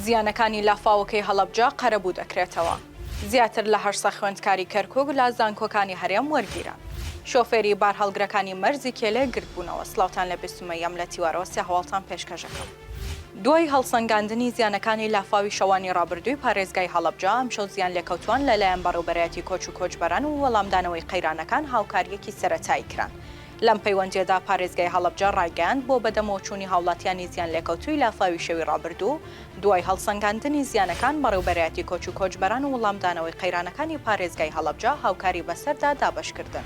زیانەکانی لافاوەکەی هەڵەبجە قەرەبوو دەکرێتەوە. زیاتر لە هەشت سەد خوێندکاری کەرکووک لە زانکۆکانی هەرێم وەرگیران. شۆفێری بارهەڵگرەکانی مەرزی کێلێ گردبوونەوە، سڵاوتان لە بێ سومەییەم لە تیوارەوە سێ هەواڵتان پێشکەش ئەکەم. دوای هەڵسەنگاندنی زیانەکانی لافاوی شەوانی ڕابردووی پارێزگای هەڵەبجە، ئەمشەو زیانلێکەوتووان لەلایەن بەڕێوبەرایەتی کۆچ و کۆچبەران و وەڵامدانەوەی قەیرانەکان هاوکارییەکی سەرەتایی کران. لەم پەیوەندییەدا پارێزگای هەڵەبجە ڕایگەیاند، بۆ بەدەمەوەچوونی هاوڵاتییانی زیانلێکەوتووی لافاوی شەوی ڕابردوو، دوای هەڵسەنگاندنی زیانەکان بەڕێوبەرایەتی کۆچ و کۆچبەران و وەڵامدانەوەی قەیرانەکانی پارێزگای هەڵەبجە هاوکاری بەسەردا دابەشکردن.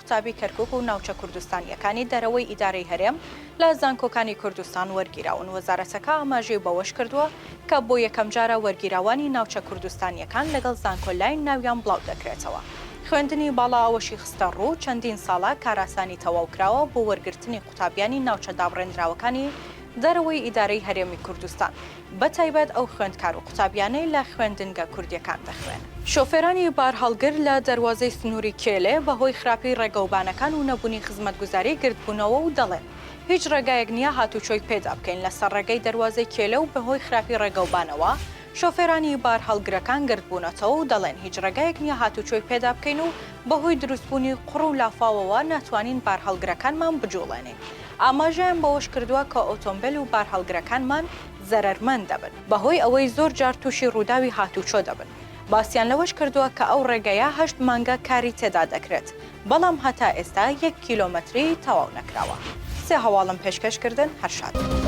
قوتابی کەرکوک و ناوچە کوردستانییەکانی دەرەوەی ئیدارەی هەرێم لە زانکۆکانی کوردستان وەرگیراون، وەزارەتەکە ئاماژەی بەوەشکردووە، کە بۆ یەکەمجارە وەرگیراوانی ناوچە کوردستانییەکان لەگەڵ زانکۆ لاین ناویان بڵاودەکرێتەوە. خوێندنی باڵا ئەوەشی خستەڕوو، چەندین ساڵە کارئاسانی تەواوکراوە بۆ وەرگرتنی قوتابیانی ناوچە دابڕێندراوەکانی دەرەوەی ئیدارەی هەرێمی کوردستان، بەتایبەت ئەو خوێندکار و قوتابیانەی لە خوێندنگە کوردییەکان دەخوێنن. شۆفێرانی بارهەڵگر لە دەروازەی سنووری کێلێ بەهۆی خراپیی ڕێگەوبانەکان و نەبوونی خزمەتگوزاری گردبوونەوە و دەڵێن، هیچ ڕێگایەک نییە هاتووچۆی پێدا بکەین، لەسەر ڕێگەی دەروازەی کێلێ و بەهۆی خراپی ڕێگەوبانەوە شۆفێرانی بارهەڵگرەکان گردبوونەتەوە و دەڵێن، هیچ ڕێگایەک نییە هاتووچۆی پێدا بکەین و بەهۆی دروستبوونی قوڕ و لافاوەوە ناتوانین بارهەڵگرەکانمان بجوڵێنین. ئاماژەیان بەوەشکردووە کە ئۆتۆمبێل و بارهەڵگرەکانمان زەرەرمەند دەبن بەهۆی ئەوەی زۆر جار تووشی رووداوی هاتووچۆ دەبن، باسیان لەوەشکردووە کە ئەو رێگەیە هەشت مانگە کاری تێدا دەکرێت، بەڵام هەتا ئێستا یەک کیلۆمەتری تەواو نەکراوە. سێ هەواڵم پێشکەش کردن هەر شاد بن.